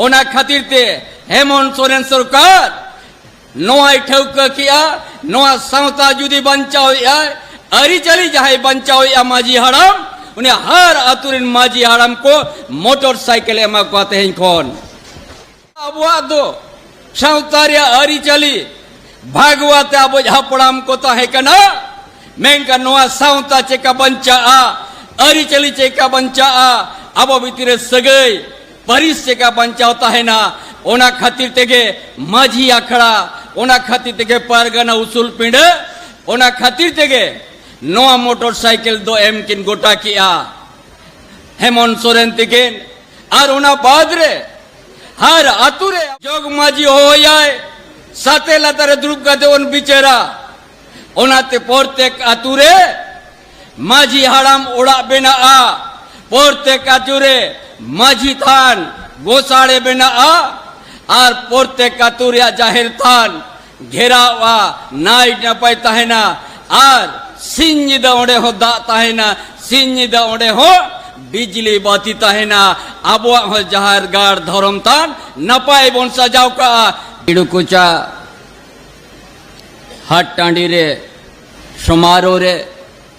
ᱚᱱᱟ ᱠᱷᱟᱹᱛᱤᱨ ᱛᱮ ᱦᱮᱢᱚᱱ ᱥᱚᱨᱮᱱ ᱥᱚᱨᱠᱟᱨ ᱱᱚᱣᱟᱭ ᱴᱷᱟᱹᱣᱠᱟᱹ ᱠᱮᱜᱼᱟ ᱱᱚᱣᱟ ᱥᱟᱶᱛᱟ ᱡᱩᱫᱤ ᱵᱟᱧᱪᱟᱣᱮᱜᱼᱟ ᱟᱹᱨᱤᱪᱟᱹᱞᱤ ᱡᱟᱦᱟᱸᱭ ᱵᱟᱧᱪᱟᱣᱮᱜᱼᱟ ᱢᱟᱹᱡᱷᱤ ᱦᱟᱲᱟᱢ ᱩᱱᱤ ᱦᱟᱨ ᱟᱹᱛᱩ ᱨᱮᱱ ᱢᱟᱹᱡᱷᱤ ᱦᱟᱲᱟᱢ ᱠᱚ ᱢᱚᱴᱚᱨ ᱥᱟᱭᱠᱮᱞ ᱮᱢᱟ ᱠᱚᱣᱟ ᱛᱮᱦᱮᱧ ᱠᱷᱚᱱ ᱟᱵᱚᱣᱟᱜ ᱫᱚ ᱥᱟᱶᱛᱟ ᱨᱮᱭᱟᱜ ᱟᱹᱨᱤᱪᱟᱹᱞᱤ ᱵᱷᱟᱜᱽᱣᱟ ᱛᱮ ᱟᱵᱚ ᱦᱟᱯᱲᱟᱢ ᱠᱚ ᱛᱟᱦᱮᱸ ᱠᱟᱱᱟ ᱢᱮᱱᱠᱷᱟᱱ ᱱᱚᱣᱟ ᱥᱟᱶᱛᱟ ᱪᱮᱠᱟ ᱵᱟᱧᱪᱟᱜᱼᱟ ᱟᱹᱨᱤᱪᱟᱹᱞᱤ ᱪᱮᱠᱟ ᱵᱟᱧᱪᱟᱜᱼᱟ ᱟᱵᱚ ᱵᱷᱤᱛᱤᱨ ᱨᱮ ᱥᱟᱹᱜᱟᱹᱭ ᱯᱟᱹᱨᱤᱥ ᱪᱮᱠᱟ ᱵᱟᱧᱪᱟᱣ ᱛᱟᱦᱮᱱᱟ ᱚᱱᱟ ᱠᱷᱟᱹᱛᱤᱨ ᱛᱮᱜᱮ ᱢᱟᱹᱡᱷᱤ ᱟᱠᱷᱲᱟ ᱚᱱᱟ ᱠᱷᱟᱹᱛᱤᱨ ᱛᱮᱜᱮ ᱯᱟᱨᱜᱟᱱᱟ ᱩᱥᱩᱞ ᱯᱤᱸᱰᱟᱹ ᱚᱱᱟ ᱠᱷᱟᱹᱛᱤᱨ ᱛᱮᱜᱮ ᱱᱚᱣᱟ ᱢᱚᱴᱚᱨ ᱥᱟᱭᱠᱮᱞ ᱫᱚ ᱮᱢ ᱠᱤᱱ ᱜᱚᱴᱟ ᱠᱮᱜᱼᱟ ᱦᱮᱢᱚᱱ ᱥᱚᱨᱮᱱ ᱛᱤᱠᱤᱱ ᱟᱨ ᱚᱱᱟ ᱵᱟᱫᱽ ᱨᱮ ᱦᱟᱨ ᱟᱛᱩ ᱨᱮ ᱡᱚᱜᱽ ᱢᱟᱹᱡᱷᱤ ᱦᱚᱦᱚᱭᱟᱭ ᱥᱟᱛᱮ ᱞᱟᱛᱟᱨ ᱨᱮ ᱫᱩᱲᱩᱵ ᱠᱟᱛᱮ ᱵᱚᱱ ᱵᱤᱪᱟᱹᱨᱟ ᱚᱱᱟᱛᱮ ᱯᱨᱚᱛᱮᱠ ᱟᱛᱩ ᱨᱮ ᱢᱟᱹᱡᱷᱤ ᱦᱟᱲᱟᱢ ᱚᱲᱟᱜ ᱵᱮᱱᱟᱜᱼᱟ ᱯᱨᱚᱛᱮᱠ ᱟᱛᱩ ᱨᱮ ᱢᱟᱹᱡᱷᱤ ᱛᱷᱟᱱ ᱜᱚᱥᱟᱲᱮ ᱵᱮᱱᱟᱜᱼᱟ ᱟᱨ ᱯᱨᱚᱛᱮᱠ ᱟᱛᱩ ᱨᱮᱭᱟᱜ ᱡᱟᱦᱮᱨ ᱛᱷᱟᱱ ᱜᱷᱮᱨᱟᱣᱜᱼᱟ ᱱᱟᱭᱤᱴ ᱱᱟᱯᱟᱭ ᱛᱟᱦᱮᱱᱟ ᱟᱨ ᱥᱤᱧ ᱧᱤᱫᱟᱹ ᱚᱸᱰᱮ ᱦᱚᱸ ᱫᱟᱜ ᱛᱟᱦᱮᱱᱟ ᱥᱤᱧ ᱧᱤᱫᱟᱹ ᱚᱸᱰᱮ ᱦᱚᱸ ᱵᱤᱡᱽᱞᱤ ᱵᱟᱹᱛᱤ ᱛᱟᱦᱮᱱᱟ ᱟᱵᱚᱣᱟᱜ ᱦᱚᱸ ᱡᱟᱦᱮᱨ ᱜᱟᱲ ᱫᱷᱚᱨᱚᱢ ᱛᱷᱟᱱ ᱱᱟᱯᱟᱭ ᱵᱚᱱ ᱥᱟᱡᱟᱣ ᱠᱟᱜᱼᱟ ᱤᱲᱩᱠᱩᱪᱟ ᱦᱟᱴ ᱴᱟᱺᱰᱤ ᱨᱮ ᱥᱚᱢᱟᱨᱳ ᱨᱮ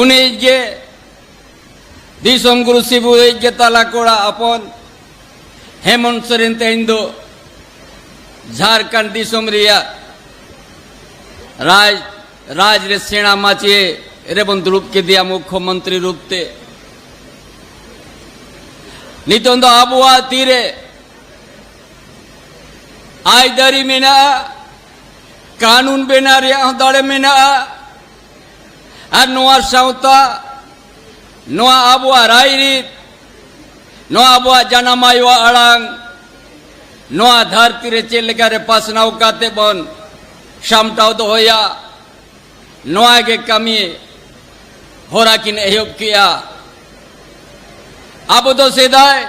ᱩᱱᱤ ᱜᱮ ᱫᱤᱥᱚᱢ ᱜᱩᱨᱩ ᱥᱤᱵᱩ ᱮᱡ ᱜᱮ ᱛᱟᱞᱟ ᱠᱚᱲᱟ ᱟᱯᱚᱱ ᱦᱮᱢᱚᱱᱛ ᱥᱚᱨᱮᱱ ᱛᱮᱦᱮᱧ ᱫᱚ ᱡᱷᱟᱨᱠᱷᱚᱸᱰ ᱫᱤᱥᱚᱢ ᱨᱮᱭᱟᱜ ᱨᱟᱡᱽ ᱨᱟᱡᱽ ᱨᱮ ᱥᱮᱬᱟ ᱢᱟᱪᱮ ᱨᱮᱵᱚᱱ ᱫᱩᱲᱩᱵ ᱠᱮᱫᱮᱭᱟ ᱢᱩᱠᱷᱚᱢᱚᱱᱛᱨᱤ ᱨᱩᱯ ᱛᱮ ᱱᱤᱛᱚᱝ ᱫᱚ ᱟᱵᱚᱣᱟᱜ ᱛᱤᱨᱮ ᱟᱭᱫᱟᱹᱨᱤ ᱢᱮᱱᱟᱜᱼᱟ ᱠᱟᱹᱱᱩᱱ ᱵᱮᱱᱟᱣ ᱨᱮᱭᱟᱜ ᱦᱚᱸ ᱫᱟᱲᱮ ᱢᱮᱱᱟᱜᱼᱟ ᱟᱨ ᱱᱚᱣᱟ ᱥᱟᱶᱛᱟ ᱱᱚᱣᱟ ᱟᱵᱚᱣᱟᱜ ᱨᱟᱭᱨᱤᱛ ᱱᱚᱣᱟ ᱟᱵᱚᱣᱟᱜ ᱡᱟᱱᱟᱢ ᱟᱭᱳᱣᱟᱜ ᱟᱲᱟᱝ ᱱᱚᱣᱟ ᱫᱷᱟᱹᱨᱛᱤ ᱨᱮ ᱪᱮᱫ ᱞᱮᱠᱟ ᱨᱮ ᱯᱟᱥᱱᱟᱣ ᱠᱟᱛᱮ ᱵᱚᱱ ᱥᱟᱢᱴᱟᱣ ᱫᱚᱦᱚᱭᱟ ᱱᱚᱣᱟ ᱜᱮ ᱠᱟᱹᱢᱤ ᱦᱚᱨᱟ ᱠᱤᱱ ᱮᱦᱚᱵ ᱠᱮᱜᱼᱟ ᱟᱵᱚ ᱫᱚ ᱥᱮᱫᱟᱭ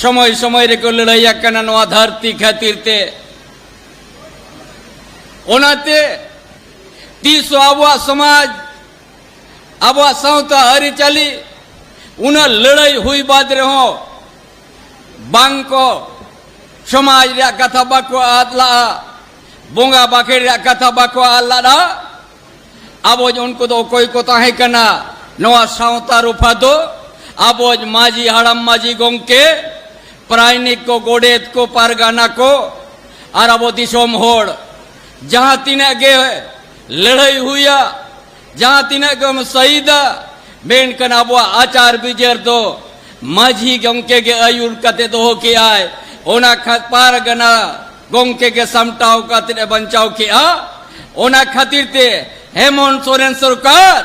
ᱥᱚᱢᱚᱭ ᱥᱚᱢᱚᱭ ᱨᱮᱠᱚ ᱞᱟᱹᱲᱦᱟᱹᱭ ᱟᱠᱟᱱᱟ ᱱᱚᱣᱟ ᱫᱷᱟᱹᱨᱛᱤ ᱠᱷᱟᱹᱛᱤᱨ ᱛᱮ ᱚᱱᱟᱛᱮ ᱛᱤᱥ ᱦᱚᱸ ᱟᱵᱚᱣᱟᱜ ᱥᱚᱢᱟᱡᱽ ᱟᱵᱚᱣᱟᱜ ᱥᱟᱶᱛᱟ ᱟᱹᱨᱤᱪᱟᱹᱞᱤ ᱩᱱᱟᱹᱜ ᱞᱟᱹᱲᱦᱟᱹᱭ ᱦᱩᱭ ᱵᱟᱫ ᱨᱮᱦᱚᱸ ᱵᱟᱝ ᱠᱚ ᱥᱚᱢᱟᱡᱽ ᱨᱮᱭᱟᱜ ᱠᱟᱛᱷᱟ ᱵᱟᱠᱚ ᱟᱫ ᱞᱟᱜᱼᱟ ᱵᱚᱸᱜᱟ ᱵᱟᱠᱷᱮᱲ ᱨᱮᱭᱟᱜ ᱠᱟᱛᱷᱟ ᱵᱟᱠᱚ ᱟᱫ ᱞᱟᱜᱼᱟ ᱟᱵᱚᱡ ᱩᱱᱠᱩ ᱫᱚ ᱚᱠᱚᱭ ᱠᱚ ᱛᱟᱦᱮᱸ ᱠᱟᱱᱟ ᱱᱚᱣᱟ ᱥᱟᱶᱛᱟ ᱨᱩᱯᱷᱟ ᱫᱚ ᱟᱵᱚᱡ ᱢᱟᱹᱡᱷᱤ ᱦᱟᱲᱟᱢ ᱢᱟᱹᱡᱷᱤ ᱜᱚᱢᱠᱮ ᱯᱨᱟᱭᱱᱤᱠ ᱠᱚ ᱜᱚᱰᱮᱛ ᱠᱚ ᱯᱟᱨᱜᱟᱱᱟ ᱠᱚ ᱟᱨ ᱟᱵᱚ ᱫᱤᱥᱚᱢ ᱦᱚᱲ ᱡᱟᱦᱟᱸ ᱛᱤᱱᱟᱹᱜ ᱜᱮ ᱞᱟᱹᱲᱦᱟᱹᱭ ᱦᱩᱭᱟ ᱡᱟᱦᱟᱸ ᱛᱤᱱᱟᱹᱜ ᱜᱮᱢ ᱥᱟᱹᱭᱤᱫᱟ ᱢᱮᱱᱠᱷᱟᱱ ᱟᱵᱚᱣᱟᱜ ᱟᱪᱟᱨ ᱵᱤᱪᱟᱹᱨ ᱫᱚ ᱢᱟᱹᱡᱷᱤ ᱜᱚᱢᱠᱮ ᱜᱮ ᱟᱹᱭᱩᱨ ᱠᱟᱛᱮ ᱫᱚᱦᱚ ᱠᱮᱜᱼᱟᱭ ᱚᱱᱟ ᱠᱷᱟᱛ ᱯᱟᱨᱜᱟᱱᱟ ᱜᱚᱝᱠᱮ ᱜᱮ ᱥᱟᱢᱴᱟᱣ ᱠᱟᱛᱮ ᱮ ᱵᱟᱧᱪᱟᱣ ᱠᱮᱜᱼᱟ ᱚᱱᱟ ᱠᱷᱟᱹᱛᱤᱨ ᱛᱮ ᱦᱮᱢᱚᱱ ᱥᱚᱨᱮᱱ ᱥᱚᱨᱠᱟᱨ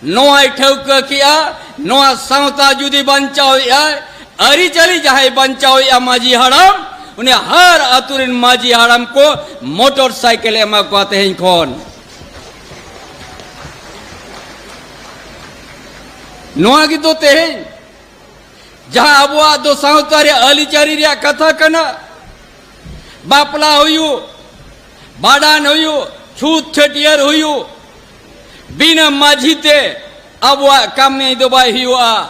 ᱱᱚᱣᱟᱭ ᱴᱷᱟᱹᱣᱠᱟᱹ ᱠᱮᱜᱼᱟ ᱱᱚᱣᱟ ᱥᱟᱶᱛᱟ ᱡᱩᱫᱤ ᱵᱟᱧᱪᱟᱣᱮᱜᱼᱟᱭ ᱟᱹᱨᱤᱪᱟᱹᱞᱤ ᱡᱟᱦᱟᱸᱭ ᱵᱟᱧᱪᱟᱣᱮᱜᱼᱟ ᱢᱟᱹᱡᱷᱤ ᱦᱟᱲᱟᱢ ᱩᱱᱤ ᱦᱟᱨ ᱟᱛᱳ ᱨᱮᱱ ᱢᱟᱹᱡᱷᱤ ᱦᱟᱲᱟᱢ ᱠᱚ ᱢᱚᱴᱚᱨ ᱥᱟᱭᱠᱮᱞ ᱮᱢᱟ ᱠᱚᱣᱟ ᱛᱮᱦᱮᱧ ᱠᱷᱚᱱ ᱱᱚᱣᱟ ᱜᱮᱛᱚ ᱛᱮᱦᱮᱧ ᱡᱟᱦᱟᱸ ᱟᱵᱚᱣᱟᱜ ᱫᱚ ᱥᱟᱶᱛᱟ ᱨᱮ ᱟᱹᱨᱤᱪᱟᱹᱨᱤ ᱨᱮᱭᱟᱜ ᱠᱟᱛᱷᱟ ᱠᱟᱱᱟ ᱵᱟᱯᱞᱟ ᱦᱩᱭᱩᱜ ᱵᱟᱰᱟᱱ ᱦᱩᱭᱩᱜ ᱪᱷᱩᱛ ᱪᱷᱟᱹᱴᱭᱟᱹᱨ ᱦᱩᱭᱩᱜ ᱵᱤᱱᱟᱹ ᱢᱟᱹᱡᱷᱤ ᱛᱮ ᱟᱵᱚᱣᱟᱜ ᱠᱟᱹᱢᱤ ᱫᱚ ᱵᱟᱭ ᱦᱩᱭᱩᱜᱼᱟ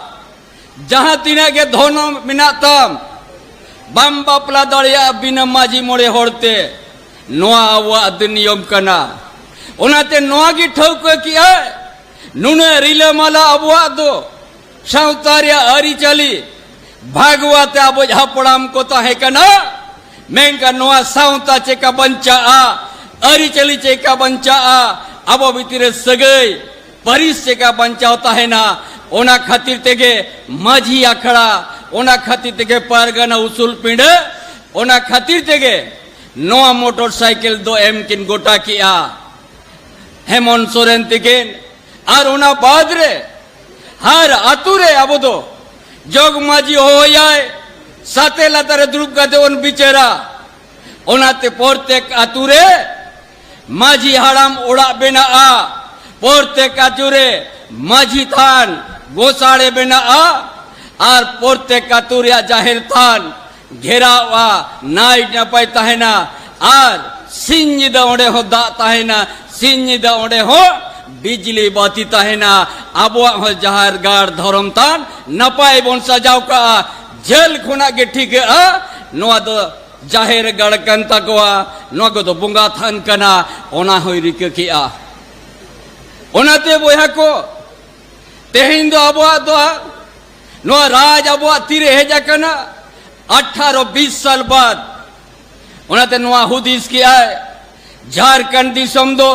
ᱡᱟᱦᱟᱸ ᱛᱤᱱᱟᱹᱜ ᱜᱮ ᱫᱷᱚᱨᱢ ᱢᱮᱱᱟᱜ ᱛᱟᱢ ᱵᱟᱢ ᱵᱟᱯᱞᱟ ᱫᱟᱲᱮᱭᱟᱜᱼᱟ ᱵᱤᱱᱟᱹ ᱢᱟᱹᱡᱷᱤ ᱢᱚᱬᱮ ᱦᱚᱲᱛᱮ ᱱᱚᱣᱟ ᱟᱵᱚᱣᱟᱜ ᱫᱚ ᱱᱤᱭᱚᱢ ᱠᱟᱱᱟ ᱚᱱᱟᱛᱮ ᱱᱚᱣᱟ ᱜᱮ ᱴᱷᱟᱹᱣᱠᱟᱹ ᱠᱮᱜᱼᱟ ᱱᱩᱱᱟᱹᱜ ᱨᱤᱞᱟᱹᱢᱟᱞᱟ ᱟᱵᱚᱣᱟᱜ ᱫᱚ ᱥᱟᱶᱛᱟ ᱨᱮᱭᱟᱜ ᱟᱹᱨᱤᱪᱟᱹᱞᱤ ᱵᱷᱟᱜᱽᱣᱟ ᱛᱮ ᱟᱵᱚ ᱦᱟᱯᱲᱟᱢ ᱠᱚ ᱛᱟᱦᱮᱸ ᱠᱟᱱᱟ ᱢᱮᱱᱠᱷᱟᱱ ᱱᱚᱣᱟ ᱥᱟᱶᱛᱟ ᱪᱮᱠᱟ ᱵᱟᱧᱪᱟᱜᱼᱟ ᱟᱹᱨᱤᱪᱟᱹᱞᱤ ᱪᱮᱠᱟ ᱵᱟᱧᱪᱟᱜᱼᱟ ᱟᱵᱚ ᱵᱷᱤᱛᱤᱨ ᱨᱮ ᱥᱟᱹᱜᱟᱹᱭ ᱯᱟᱹᱨᱤᱥ ᱪᱮᱠᱟ ᱵᱟᱧᱪᱟᱣ ᱛᱟᱦᱮᱱᱟ ᱚᱱᱟ ᱠᱷᱟᱹᱛᱤᱨ ᱛᱮᱜᱮ ᱢᱟᱹᱡᱷᱤ ᱟᱠᱷᱲᱟ ᱚᱱᱟ ᱠᱷᱟᱹᱛᱤᱨ ᱛᱮᱜᱮ ᱯᱟᱨᱜᱟᱱᱟ ᱩᱥᱩᱞ ᱯᱤᱸᱰᱟᱹ ᱚᱱᱟ ᱠᱷᱟᱹᱛᱤᱨ ᱛᱮᱜᱮ ᱱᱚᱣᱟ ᱢᱚᱴᱚᱨ ᱥᱟᱭᱠᱮᱞ ᱫᱚ ᱮᱢ ᱠᱤᱱ ᱜᱚᱴᱟ ᱠᱮᱜᱼᱟ ᱦᱮᱢᱚᱱ ᱥᱚᱨᱮᱱ ᱛᱤᱠᱤᱱ ᱟᱨ ᱚᱱᱟ ᱵᱟᱫ ᱨᱮ ᱦᱟᱨ ᱟᱛᱳ ᱨᱮ ᱟᱵᱚ ᱫᱚ ᱡᱚᱜᱽ ᱢᱟᱹᱡᱷᱤ ᱦᱚᱦᱚᱭᱟᱭ ᱥᱟᱛᱮ ᱞᱟᱛᱟᱨ ᱨᱮ ᱫᱩᱲᱩᱵ ᱠᱟᱛᱮ ᱵᱚᱱ ᱵᱤᱪᱟᱹᱨᱟ ᱚᱱᱟᱛᱮ ᱯᱨᱚᱛᱮᱠ ᱟᱛᱳ ᱨᱮ ᱢᱟᱹᱡᱷᱤ ᱦᱟᱲᱟᱢ ᱚᱲᱟᱜ ᱵᱮᱱᱟᱜᱼᱟ ᱯᱨᱚᱛᱮᱠ ᱟᱛᱳ ᱨᱮ ᱢᱟᱹᱡᱷᱤ ᱛᱷᱟᱱ ᱜᱚᱥᱟᱲᱮ ᱵᱮᱱᱟᱜᱼᱟ ᱟᱨ ᱯᱨᱚᱛᱮᱠ ᱟᱛᱳ ᱨᱮᱭᱟᱜ ᱡᱟᱦᱮᱨ ᱛᱷᱟᱱ ᱜᱷᱮᱨᱟᱣᱜᱼᱟ ᱱᱟᱭ ᱱᱟᱯᱟᱭ ᱛᱟᱦᱮᱱᱟ ᱟᱨ ᱥᱤᱧ ᱧᱤᱫᱟᱹ ᱚᱸᱰᱮ ᱦᱚᱸ ᱫᱟᱜ ᱛᱟᱦᱮᱱᱟ ᱥᱤᱧ ᱧᱤᱫᱟᱹ ᱚᱸᱰᱮ ᱦᱚᱸ ᱵᱤᱡᱽᱞᱤ ᱵᱟᱹᱛᱤ ᱛᱟᱦᱮᱱᱟ ᱟᱵᱚᱣᱟᱜ ᱦᱚᱸ ᱡᱟᱦᱮᱨ ᱜᱟᱲ ᱫᱷᱚᱨᱚᱢ ᱛᱷᱟᱱ ᱱᱟᱯᱟᱭ ᱵᱚᱱ ᱥᱟᱡᱟᱣ ᱠᱟᱜᱼᱟ ᱡᱷᱟᱹᱞ ᱠᱷᱚᱱᱟᱜ ᱜᱮ ᱴᱷᱤᱠᱟᱹᱜᱼᱟ ᱱᱚᱣᱟ ᱫᱚ ᱡᱟᱦᱮᱨ ᱜᱟᱲ ᱠᱟᱱ ᱛᱟᱠᱚᱣᱟ ᱱᱚᱣᱟ ᱠᱚᱫᱚ ᱵᱚᱸᱜᱟ ᱛᱷᱟᱱ ᱠᱟᱱᱟ ᱚᱱᱟ ᱦᱚᱸᱭ ᱨᱤᱠᱟᱹ ᱠᱮᱜᱼᱟ ᱚᱱᱟᱛᱮ ᱵᱚᱭᱦᱟ ᱠᱚ ᱛᱮᱦᱮᱧ ᱫᱚ ᱟᱵᱚᱣᱟᱜ ᱫᱚ ᱱᱚᱣᱟ ᱨᱟᱡᱽ ᱟᱵᱚᱣᱟᱜ ᱛᱤᱨᱮ ᱦᱮᱡ ᱟᱠᱟᱱᱟ ᱟᱴᱷᱟᱨᱚ ᱵᱤᱥ ᱥᱟᱞ ᱵᱟᱫ ᱚᱱᱟᱛᱮ ᱱᱚᱣᱟ ᱦᱩᱫᱤᱥ ᱠᱮᱜᱼᱟᱭ ᱡᱷᱟᱨᱠᱷᱚᱸᱰ ᱫᱤᱥᱚᱢ ᱫᱚ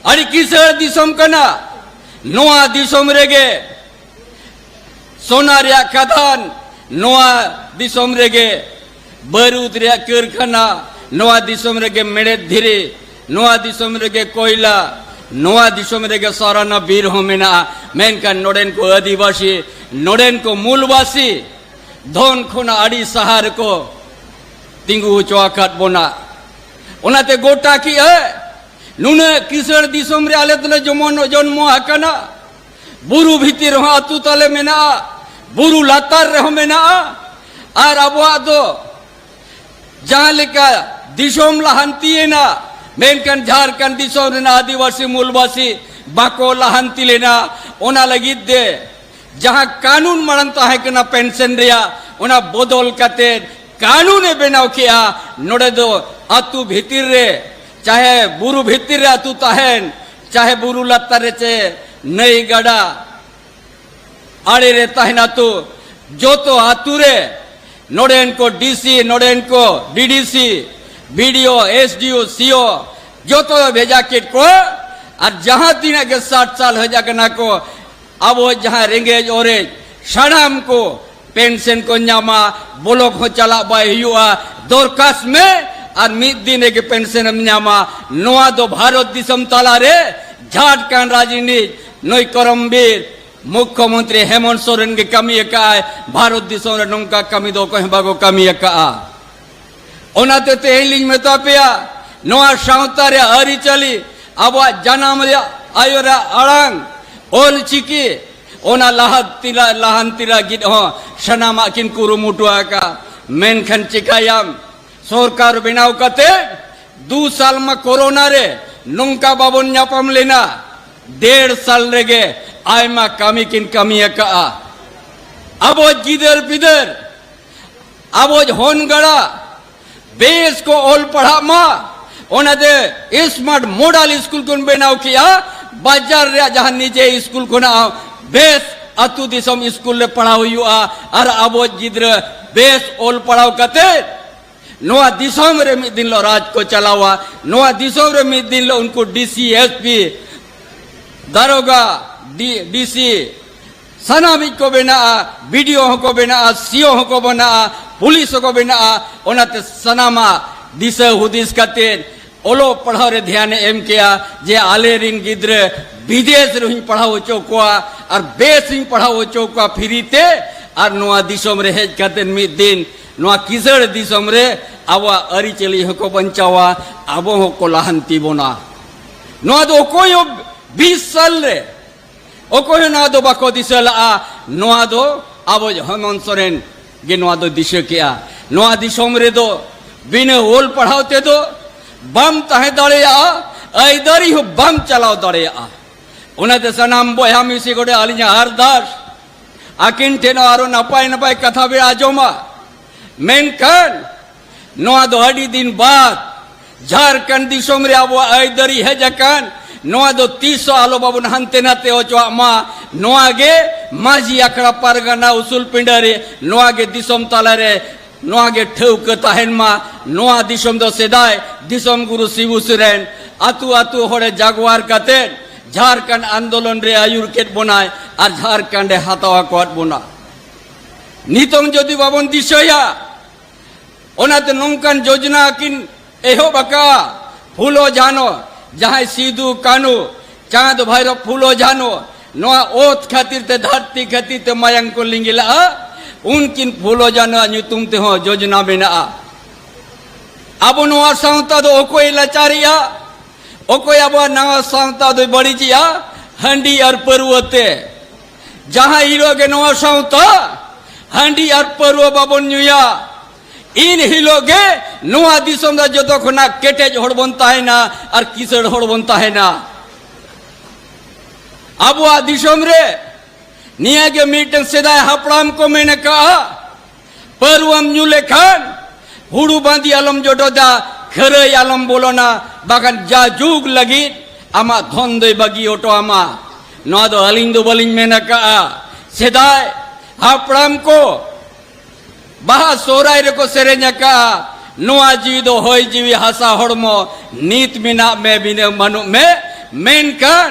ᱟᱹᱰᱤ ᱠᱤᱥᱟᱹᱬ ᱫᱤᱥᱚᱢ ᱠᱟᱱᱟ ᱱᱚᱣᱟ ᱫᱤᱥᱚᱢ ᱨᱮᱜᱮ ᱥᱚᱱᱟ ᱨᱮᱭᱟᱜ ᱠᱟᱫᱟᱱ ᱱᱚᱣᱟ ᱫᱤᱥᱚᱢ ᱨᱮᱜᱮ ᱵᱟᱹᱨᱩᱫ ᱨᱮᱭᱟᱜ ᱠᱟᱹᱨᱠᱷᱟᱱᱟ ᱱᱚᱣᱟ ᱫᱤᱥᱚᱢ ᱨᱮᱜᱮ ᱢᱮᱲᱮᱫ ᱫᱷᱤᱨᱤ ᱱᱚᱣᱟ ᱫᱤᱥᱚᱢ ᱨᱮᱜᱮ ᱠᱚᱭᱞᱟ ᱱᱚᱣᱟ ᱫᱤᱥᱚᱢ ᱨᱮᱜᱮ ᱥᱟᱨᱟᱱᱟ ᱵᱤᱨ ᱦᱚᱸ ᱢᱮᱱᱟᱜᱼᱟ ᱢᱮᱱᱠᱷᱟᱱ ᱱᱚᱰᱮᱱ ᱠᱚ ᱟᱹᱫᱤᱵᱟᱹᱥᱤ ᱱᱚᱰᱮᱱ ᱠᱚ ᱢᱩᱞᱵᱟᱹᱥᱤ ᱫᱷᱚᱱ ᱠᱷᱚᱱᱟᱜ ᱟᱹᱰᱤ ᱥᱟᱦᱟ ᱨᱮᱠᱚ ᱛᱤᱸᱜᱩ ᱦᱚᱪᱚ ᱟᱠᱟᱫ ᱵᱚᱱᱟ ᱚᱱᱟᱛᱮ ᱜᱚᱴᱟ ᱠᱮᱜᱼᱟ ᱱᱩᱱᱟᱹᱜ ᱠᱤᱥᱟᱹᱬ ᱫᱤᱥᱚᱢ ᱨᱮ ᱟᱞᱮ ᱫᱚᱞᱮ ᱡᱚᱢᱚᱱ ᱡᱚᱱᱢᱚ ᱟᱠᱟᱱᱟ ᱵᱩᱨᱩ ᱵᱷᱤᱛᱤᱨ ᱨᱮᱦᱚᱸ ᱟᱛᱳ ᱛᱟᱞᱮ ᱢᱮᱱᱟᱜᱼᱟ ᱵᱩᱨᱩ ᱞᱟᱛᱟᱨ ᱨᱮᱦᱚᱸ ᱢᱮᱱᱟᱜᱼᱟ ᱟᱨ ᱟᱵᱚᱣᱟᱜ ᱫᱚ ᱡᱟᱦᱟᱸ ᱞᱮᱠᱟ ᱫᱤᱥᱚᱢ ᱞᱟᱦᱟᱱᱛᱤᱭᱮᱱᱟ ᱢᱮᱱᱠᱷᱟᱱ ᱡᱷᱟᱲᱠᱷᱚᱸᱰ ᱫᱤᱥᱚᱢ ᱨᱮᱱᱟᱜ ᱟᱹᱫᱤᱵᱟᱹᱥᱤ ᱢᱩᱞᱵᱟᱹᱥᱤ ᱵᱟᱠᱚ ᱞᱟᱦᱟᱱᱛᱤ ᱞᱮᱱᱟ ᱚᱱᱟ ᱞᱟᱹᱜᱤᱫ ᱛᱮ ᱡᱟᱦᱟᱸ ᱠᱟᱹᱱᱩᱱ ᱢᱟᱲᱟᱝ ᱛᱟᱦᱮᱸ ᱠᱟᱱᱟ ᱯᱮᱱᱥᱚᱱ ᱨᱮᱭᱟᱜ ᱚᱱᱟ ᱵᱚᱫᱚᱞ ᱠᱟᱛᱮ ᱠᱟᱹᱱᱩᱱᱮ ᱵᱮᱱᱟᱣ ᱠᱮᱜᱼᱟ ᱱᱚᱰᱮ ᱫᱚ ᱟᱛᱳ ᱵᱷᱤᱛᱤᱨ ᱨᱮ ᱪᱟᱦᱮ ᱵᱩᱨᱩ ᱵᱷᱤᱛᱤᱨ ᱨᱮ ᱟᱛᱳ ᱛᱟᱦᱮᱱ ᱪᱟᱦᱮ ᱵᱩᱨᱩ ᱞᱟᱛᱟᱨ ᱨᱮ ᱪᱮ ᱱᱟᱹᱭ ᱜᱟᱰᱟ ᱟᱲᱮ ᱨᱮ ᱛᱟᱦᱮᱱ ᱟᱛᱳ ᱡᱚᱛᱚ ᱟᱛᱳ ᱨᱮ ᱱᱚᱰᱮᱱ ᱠᱚ ᱰᱤᱥᱤ ᱱᱚᱰᱮᱱ ᱠᱚ ᱰᱤᱰᱤᱥᱤ ᱵᱤᱰᱤᱳ ᱮᱥᱰᱤᱳ ᱥᱤᱳ ᱡᱚᱛᱚ ᱵᱷᱮᱡᱟ ᱠᱮᱫ ᱠᱚᱣᱟ ᱟᱨ ᱡᱟᱦᱟᱸ ᱛᱤᱱᱟᱹᱜ ᱜᱮ ᱥᱟᱴ ᱥᱟᱞ ᱦᱮᱡ ᱟᱠᱟᱱᱟ ᱠᱚ ᱟᱵᱚ ᱡᱟᱦᱟᱸ ᱨᱮᱸᱜᱮᱡ ᱚᱨᱮᱡ ᱥᱟᱱᱟᱢ ᱠᱚ ᱯᱮᱱᱥᱚᱱ ᱠᱚ ᱧᱟᱢᱟ ᱵᱚᱞᱚᱠ ᱦᱚᱸ ᱪᱟᱞᱟᱜ ᱵᱟᱭ ᱦᱩᱭᱩᱜᱼᱟ ᱫᱚᱨᱠᱟᱥ ᱢᱮ ᱟᱨ ᱢᱤᱫ ᱫᱤᱱ ᱨᱮᱜᱮ ᱯᱮᱱᱥᱚᱱ ᱮᱢ ᱧᱟᱢᱟ ᱱᱚᱣᱟ ᱫᱚ ᱵᱷᱟᱨᱚᱛ ᱫᱤᱥᱚᱢ ᱛᱟᱞᱟᱨᱮ ᱡᱷᱟᱴ ᱠᱟᱱ ᱨᱟᱡᱽᱱᱤᱛ ᱱᱩᱭ ᱠᱚᱨᱚᱢᱵᱤᱨ ᱢᱩᱠᱷᱭᱚᱢᱚᱱᱛᱨᱤ ᱦᱮᱢᱚᱱ ᱥᱚᱨᱮᱱ ᱜᱮ ᱠᱟᱹᱢᱤ ᱟᱠᱟᱫᱼᱟᱭ ᱵᱷᱟᱨᱚᱛ ᱫᱤᱥᱚᱢ ᱨᱮ ᱱᱚᱝᱠᱟ ᱠᱟᱹᱢᱤ ᱫᱚ ᱚᱠᱚᱭ ᱦᱚᱸ ᱵᱟᱠᱚ ᱠᱟᱹᱢᱤ ᱟᱠᱟᱫᱼᱟ ᱚᱱᱟᱛᱮ ᱛᱮᱦᱮᱧ ᱞᱤᱧ ᱢᱮᱛᱟ ᱯᱮᱭᱟ ᱱᱚᱣᱟ ᱥᱟᱶᱛᱟ ᱨᱮ ᱟᱹᱨᱤᱪᱟᱹᱞᱤ ᱟᱵᱚᱣᱟᱜ ᱡᱟᱱᱟᱢ ᱨᱮᱭᱟᱜ ᱟᱭᱳ ᱨᱮᱭᱟᱜ ᱟᱲᱟᱝ ᱚᱞ ᱪᱤᱠᱤ ᱚᱱᱟ ᱞᱟᱦᱟᱱᱛᱤ ᱞᱟᱦᱟᱱᱛᱤ ᱞᱟᱹᱜᱤᱫ ᱦᱚᱸ ᱥᱟᱱᱟᱢᱟᱜ ᱠᱤᱱ ᱠᱩᱨᱩᱢᱩᱴᱩ ᱟᱠᱟᱫᱼᱟ ᱢᱮᱱᱠᱷᱟᱱ ᱪᱤᱠᱟᱹᱭᱟᱢ ᱥᱚᱨᱠᱟᱨ ᱵᱮᱱᱟᱣ ᱠᱟᱛᱮ ᱫᱩ ᱥᱟᱞ ᱢᱟ ᱠᱳᱨᱳᱱᱟ ᱨᱮ ᱱᱚᱝᱠᱟ ᱵᱟᱵᱚᱱ ᱧᱟᱯᱟᱢ ᱞᱮᱱᱟ ᱰᱮᱲ ᱥᱟᱞ ᱨᱮᱜᱮ ᱟᱭᱢᱟ ᱠᱟᱹᱢᱤ ᱠᱤᱱ ᱠᱟᱹᱢᱤ ᱟᱠᱟᱫᱼᱟ ᱟᱵᱚ ᱜᱤᱫᱟᱹᱨ ᱯᱤᱫᱟᱹᱨ ᱟᱵᱚ ᱦᱚᱱ ᱜᱟᱲᱟ ᱵᱮᱥ ᱠᱚ ᱚᱞ ᱯᱟᱲᱦᱟᱜ ᱢᱟ ᱚᱱᱟᱛᱮ ᱥᱢᱟᱨᱴ ᱢᱚᱰᱮᱞ ᱥᱠᱩᱞ ᱠᱚ ᱵᱮᱱᱟᱣ ᱠᱮᱜᱼᱟ ᱵᱟᱡᱟᱨ ᱨᱮᱭᱟᱜ ᱡᱟᱦᱟᱸ ᱱᱤᱡᱮ ᱥᱠᱩᱞ ᱠᱷᱚᱱᱟᱜ ᱵᱮᱥ ᱟᱛᱳ ᱫᱤᱥᱚᱢ ᱥᱠᱩᱞ ᱨᱮ ᱯᱟᱲᱦᱟᱣ ᱦᱩᱭᱩᱜᱼᱟ ᱟᱨ ᱟᱵᱚ ᱜᱤᱫᱽᱨᱟᱹ ᱵᱮᱥ ᱚᱞ ᱯᱟᱲᱦᱟᱣ ᱠᱟᱛᱮ ᱱᱚᱣᱟ ᱫᱤᱥᱚᱢ ᱨᱮ ᱢᱤᱫ ᱫᱤᱱ ᱞᱚ ᱨᱟᱡᱽ ᱠᱚ ᱪᱟᱞᱟᱣᱟ ᱱᱚᱣᱟ ᱫᱤᱥᱚᱢ ᱨᱮ ᱢᱤᱫ ᱫᱤᱱ ᱞᱚ ᱩᱱᱠᱩ ᱰᱤᱥᱤ ᱮᱥᱯᱤ ᱫᱟᱨᱚᱜᱟ ᱰᱤ ᱰᱤᱥᱤ ᱥᱟᱱᱟᱢᱤᱡ ᱠᱚ ᱵᱮᱱᱟᱜᱼᱟ ᱵᱤᱰᱤᱳ ᱦᱚᱸᱠᱚ ᱵᱮᱱᱟᱜᱼᱟ ᱥᱤᱳ ᱦᱚᱸᱠᱚ ᱵᱮᱱᱟᱜᱼᱟ ᱯᱩᱞᱤᱥ ᱦᱚᱸᱠᱚ ᱵᱮᱱᱟᱜᱼᱟ ᱚᱱᱟᱛᱮ ᱥᱟᱱᱟᱢᱟᱜ ᱫᱤᱥᱟᱹ ᱦᱩᱫᱤᱥ ᱠᱟᱛᱮ ᱚᱞᱚᱜ ᱯᱟᱲᱦᱟᱣ ᱨᱮ ᱫᱷᱮᱭᱟᱱᱮ ᱮᱢ ᱠᱮᱜᱼᱟ ᱡᱮ ᱟᱞᱮ ᱨᱤᱱ ᱜᱤᱫᱽᱨᱟᱹ ᱵᱤᱫᱮᱥ ᱨᱮᱦᱚᱸᱧ ᱯᱟᱲᱦᱟᱣ ᱦᱚᱪᱚ ᱠᱚᱣᱟ ᱟᱨ ᱵᱮᱥᱤᱧ ᱯᱟᱲᱦᱟᱣ ᱦᱚᱪᱚ ᱠᱚᱣᱟ ᱯᱷᱤᱨᱤ ᱛᱮ ᱟᱨ ᱱᱚᱣᱟ ᱫᱤᱥᱚᱢ ᱨᱮ ᱦᱮᱡ ᱠᱟᱛᱮ ᱢᱤᱫ ᱫᱤᱱ ᱱᱚᱣᱟ ᱠᱤᱥᱟᱹᱬ ᱫᱤᱥᱚᱢ ᱨᱮ ᱟᱵᱚᱣᱟᱜ ᱟᱹᱨᱤᱪᱟᱹᱞᱤ ᱦᱚᱸᱠᱚ ᱵᱟᱧᱪᱟᱣᱟ ᱟᱵᱚ ᱦᱚᱸᱠᱚ ᱞᱟᱦᱟᱱᱛᱤ ᱵᱚᱱᱟ ᱱᱚᱣᱟ ᱫᱚ ᱚᱠᱚᱭ ᱦᱚᱸ ᱵᱤᱥ ᱥᱟᱞ ᱨᱮ ᱚᱠᱚᱭ ᱦᱚᱸ ᱱᱚᱣᱟ ᱫᱚ ᱵᱟᱠᱚ ᱫᱤᱥᱟᱹ ᱞᱟᱜᱼᱟ ᱱᱚᱣᱟ ᱫᱚ ᱟᱵᱚ ᱦᱮᱢᱚᱱᱛ ᱥᱚᱨᱮᱱ ᱜᱮ ᱱᱚᱣᱟ ᱫᱚ ᱫᱤᱥᱟᱹ ᱠᱮᱜᱼᱟ ᱱᱚᱣᱟ ᱫᱤᱥᱚᱢ ᱨᱮᱫᱚ ᱵᱤᱱᱟᱹ ᱚᱞ ᱯᱟᱲᱦᱟᱣ ᱛᱮᱫᱚ ᱵᱟᱢ ᱛᱟᱦᱮᱸ ᱫᱟᱲᱮᱭᱟᱜᱼᱟ ᱟᱹᱭᱫᱟᱹᱨᱤ ᱦᱚᱸ ᱵᱟᱢ ᱪᱟᱞᱟᱣ ᱫᱟᱲᱮᱭᱟᱜᱼᱟ ᱚᱱᱟᱛᱮ ᱥᱟᱱᱟᱢ ᱵᱚᱭᱦᱟ ᱢᱤᱥᱤ ᱠᱚᱴᱷᱮ ᱟᱹᱞᱤᱧᱟᱜ ᱟᱨᱫᱟᱥ ᱟᱹᱠᱤᱱ ᱴᱷᱮᱱ ᱟᱨᱚ ᱱᱟᱯᱟᱭ ᱱᱟᱯᱟᱭ ᱠᱟᱛᱷᱟ ᱵᱮ ᱟᱸᱡᱚᱢᱟ ᱢᱮᱱᱠᱷᱟᱱ ᱱᱚᱣᱟ ᱫᱚ ᱟᱹᱰᱤ ᱫᱤᱱ ᱵᱟᱫ ᱡᱷᱟᱨᱠᱷᱚᱸᱰ ᱫᱤᱥᱚᱢ ᱨᱮ ᱟᱵᱚᱣᱟᱜ ᱟᱹᱭᱫᱟᱹᱨᱤ ᱦᱮᱡ ᱟᱠᱟᱱ ᱱᱚᱣᱟ ᱫᱚ ᱛᱤᱥ ᱦᱚᱸ ᱟᱞᱚ ᱵᱟᱵᱚᱱ ᱦᱟᱱᱛᱮ ᱱᱟᱛᱮ ᱚᱪᱚᱣᱟᱜ ᱢᱟ ᱱᱚᱣᱟ ᱜᱮ ᱢᱟᱹᱡᱷᱤ ᱟᱠᱷᱲᱟ ᱯᱟᱨᱜᱟᱱᱟ ᱩᱥᱩᱞ ᱯᱤᱸᱰᱟᱹ ᱨᱮ ᱱᱚᱣᱟ ᱜᱮ ᱫᱤᱥᱚᱢ ᱛᱟᱞᱟ ᱨᱮ ᱱᱚᱣᱟ ᱜᱮ ᱴᱷᱟᱹᱣᱠᱟᱹ ᱛᱟᱦᱮᱱ ᱢᱟ ᱱᱚᱣᱟ ᱫᱤᱥᱚᱢ ᱫᱚ ᱥᱮᱫᱟᱭ ᱫᱤᱥᱚᱢ ᱜᱩᱨᱩ ᱥᱤᱵᱩ ᱥᱚᱨᱮᱱ ᱟᱛᱩ ᱟᱛᱩ ᱦᱚᱲᱮ ᱡᱟᱜᱣᱟᱨ ᱠᱟᱛᱮ ᱡᱷᱟᱨᱠᱷᱚᱸᱰ ᱟᱱᱫᱳᱞᱚᱱ ᱨᱮ ᱟᱹᱭᱩᱨ ᱠᱮᱫ ᱵᱚᱱᱟᱭ ᱟᱨ ᱡᱷᱟᱨᱠᱷᱚᱸᱰ ᱮ ᱦᱟᱛᱟᱣ ᱟᱠᱟᱫ ᱵᱚᱱᱟ ᱱᱤᱛᱚᱝ ᱡᱩᱫᱤ ᱵᱟᱵᱚᱱ ᱫᱤᱥᱟᱹᱭᱟ ᱚᱱᱟᱛᱮ ᱱᱚᱝᱠᱟᱱ ᱡᱳᱡᱚᱱᱟ ᱠᱤᱱ ᱮᱦᱚᱵ ᱟᱠᱟᱫᱼᱟ ᱯᱷᱩᱞᱳ ᱡᱷᱟᱱᱳ ᱡᱟᱦᱟᱸᱭ ᱥᱤᱫᱩ ᱠᱟᱹᱱᱩ ᱪᱟᱸᱫᱽ ᱵᱷᱟᱭᱨᱚ ᱯᱷᱩᱞᱳ ᱡᱷᱟᱱᱳ ᱱᱚᱣᱟ ᱚᱛ ᱠᱷᱟᱹᱛᱤᱨ ᱛᱮ ᱫᱷᱟᱹᱨᱛᱤ ᱠᱷᱟᱹᱛᱤᱨ ᱛᱮ ᱢᱟᱭᱟᱝ ᱠᱚ ᱞᱤᱸᱜᱤ ᱞᱟᱜᱼᱟ ᱩᱱᱠᱤᱱ ᱯᱷᱩᱞᱳ ᱡᱷᱟᱱᱳ ᱧᱩᱛᱩᱢ ᱛᱮᱦᱚᱸ ᱡᱳᱡᱚᱱᱟ ᱢᱮᱱᱟᱜᱼᱟ ᱟᱵᱚ ᱱᱚᱣᱟ ᱥᱟᱶᱛᱟ ᱫᱚ ᱚᱠᱚᱭ ᱞᱟᱪᱟᱨᱮᱜᱼᱟ ᱚᱠᱚᱭ ᱟᱵᱚᱣᱟᱜ ᱱᱟᱣᱟ ᱥᱟᱶᱛᱟ ᱫᱚᱭ ᱵᱟᱹᱲᱤᱡᱮᱜᱼᱟ ᱦᱟᱺᱰᱤ ᱟᱨ ᱯᱟᱹᱨᱣᱟᱹ ᱛᱮ ᱡᱟᱦᱟᱸ ᱦᱤᱞᱳᱜ ᱜᱮ ᱱᱚᱣᱟ ᱥᱟᱶᱛᱟ ᱦᱟᱺᱰᱤ ᱟᱨ ᱯᱟᱹᱨᱣᱟᱹ ᱵᱟᱵᱚᱱ ᱧᱩᱭᱟ ᱤᱱ ᱦᱤᱞᱳᱜ ᱜᱮ ᱱᱚᱣᱟ ᱫᱤᱥᱚᱢ ᱨᱮ ᱡᱚᱛᱚ ᱠᱷᱚᱱᱟᱜ ᱠᱮᱴᱮᱡ ᱦᱚᱲ ᱵᱚᱱ ᱛᱟᱦᱮᱱᱟ ᱟᱨ ᱠᱤᱥᱟᱹᱬ ᱦᱚᱲ ᱵᱚᱱ ᱛᱟᱦᱮᱱᱟ ᱟᱵᱚᱣᱟᱜ ᱫᱤᱥᱚᱢ ᱨᱮ ᱱᱤᱭᱟᱹ ᱜᱮ ᱢᱤᱫᱴᱟᱝ ᱥᱮᱫᱟᱭ ᱦᱟᱯᱲᱟᱢ ᱠᱚ ᱢᱮᱱ ᱟᱠᱟᱜᱼᱟ ᱯᱟᱹᱨᱣᱟᱹᱢ ᱧᱩ ᱞᱮᱠᱷᱟᱱ ᱦᱩᱲᱩ ᱵᱟᱸᱫᱤ ᱟᱞᱚᱢ ᱡᱚᱰᱚᱫᱟ ᱠᱷᱟᱹᱨᱟᱹᱭ ᱟᱞᱚᱢ ᱵᱚᱞᱚᱱᱟ ᱵᱟᱠᱷᱟᱱ ᱡᱟ ᱡᱩᱜᱽ ᱞᱟᱹᱜᱤᱫ ᱟᱢᱟᱜ ᱫᱷᱚᱱ ᱫᱚᱭ ᱵᱟᱹᱜᱤ ᱦᱚᱴᱚ ᱟᱢᱟ ᱱᱚᱣᱟ ᱫᱚ ᱟᱹᱞᱤᱧ ᱫᱚ ᱵᱟᱹᱞᱤᱧ ᱢᱮᱱ ᱟᱠᱟᱜᱼᱟ ᱥᱮᱫᱟᱭ ᱦᱟᱯᱲᱟᱢ ᱠᱚ ᱵᱟᱦᱟ ᱥᱚᱦᱨᱟᱭ ᱨᱮᱠᱚ ᱥᱮᱨᱮᱧ ᱟᱠᱟᱜᱼᱟ ᱱᱚᱣᱟ ᱡᱤᱣᱤ ᱫᱚ ᱦᱚᱭ ᱡᱤᱣᱤ ᱦᱟᱥᱟ ᱦᱚᱲᱢᱚ ᱱᱤᱛ ᱢᱮᱱᱟᱜ ᱢᱮ ᱵᱤᱱᱟᱹ ᱵᱟᱹᱱᱩᱜ ᱢᱮ ᱢᱮᱱᱠᱷᱟᱱ